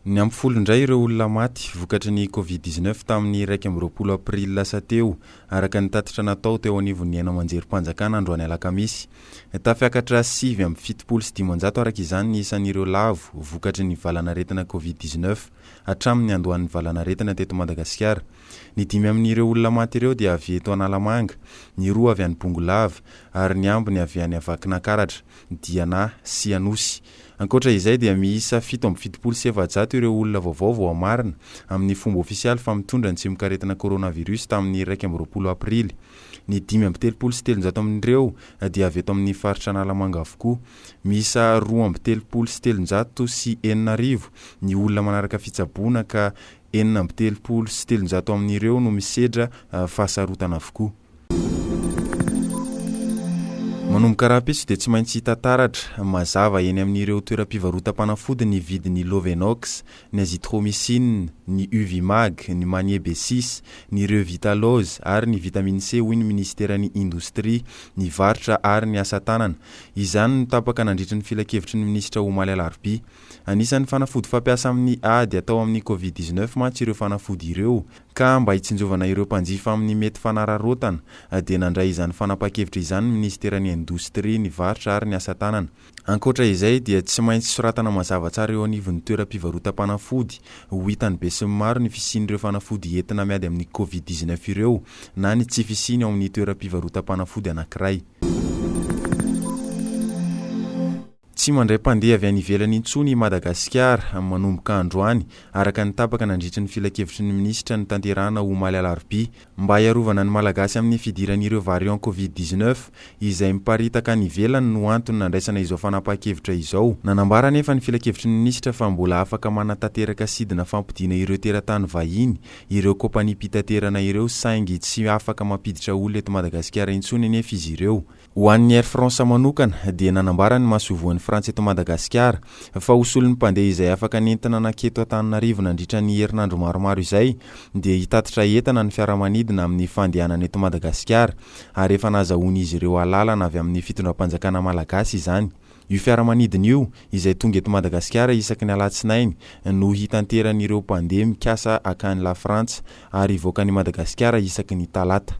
Niampy folo indray ireo olona maty vokatry ny Covid dix neuf tamin'ny iraika amby roapolo aprily lasa teo, araka ny tatitra natao teo anivon'ny haino aman-jerim-panjakana androany alakamisy. Tafiakatra sivy amby fitopolo sy dimanjato araka izany ny isan'ireo lavo vokatry ny valanaretina Covid dix neuf hatramin'ny niandohan'ny valanaretina teto Madagasikara. Ny dimy amin'ireo olona maty ireo dia avy eto Analamanga, ny roa avy any Bongolava ary ny ambiny avy any Vakinankaratra, Diana sy Anosy. Ankoatra izay dia miisa fito amby fitopolo sy efajato ireo olona vaovao voamarina amin'ny fomba ofisialy fa mitondra ny tsimok'aretina coronavirus tamin'ny iraika amby roapolo aprily. Ny dimy amby telopolo sy telonjato amin'ireo dia avy eto amin'ny faritra Analamanga avokoa. Miisa roa amby telopolo sy telonjato sy enina arivo ny olona manaraka fitsaboana ka Enina amby telopolo sy telonjato amin'ireo no misedra fahasarotana avokoa. Manomboka rahampitso dia tsy maintsy hita taratra, mazava, eny amin'ireo toeram-pivarotam-panafody ny vidin'ny Lovenox, ny Azithromycine, ny Uvimag, ny Manie B six, ny Revital'Oz ary ny Vitamine C hoy ny minisiteran'ny Indostria, ny varotra ary ny asa tanana. Izany no tapaka nandritry ny filankevitry ny minisitra omaly alarobia. Anisan'ny fanafody fampiasa amin'ny ady atao amin'ny Covid dix neuf mantsy ireo fanafody ireo ka mba hitsinjovana ireo mpanjifa amin'ny mety fanararaotana dia nandray izany fanapahan-kevitra izany ny minisiteran'ny Indostria, ny varotra ary ny asa tanana. Ankoatra izay dia tsy maintsy soratana mazava tsara eo anivon'ny toeram-pivarotam-panafody ho hitan'ny besinimaro ny fisian'ireo fanafody entina miady amin'ny Covid dix neuf ireo na ny tsy fisiany ao amin'ny toeram-pivarotam-panafody anankiray. Tsy mandray mpandeha avy any ivelany intsony i Madagasikara, manomboka androany, araka ny tapaka nandritry ny filankevitry ny minisitra notanterahina omaly alarobia, mba hiarovana ny Malagasy amin'ny fidiran'ireo variant covid dix-neuf izay miparitaka any ivelany no antony nandraisana izao fanapahan-kevitra izao. Nanambara anefa ny filankevitry ny minisitra fa mbola afaka manatanteraka sidina fampodiana ireo teratany vahiny ireo kaompaniam-pitaterana ireo saingy tsy afaka mampiditra olona eto Madagasikara intsony anefa izy ireo. Ho an'ny Air France manokana dia nanambara ny masoivohon'ny Frantsa eto Madagasikara fa ho solon'ny mpandeha izay afaka nentina nankety eto Antananarivo nandritra ny herinandro maromaro izay dia hitatitra entana ny fiaramanidina amin'ny fandehanana eto Madagasikara ary efa nazahoan'izy ireo alalana avy amin'ny fitondram-panjakana Malagasy izany. Io fiaramanidina io, izay tonga eto Madagasikara isaky ny alatsinainy, no hitanteran'ireo mpandeha mikasa hankany Lafrantsa, ary hivoaka an'i Madagasikara isaky ny talata.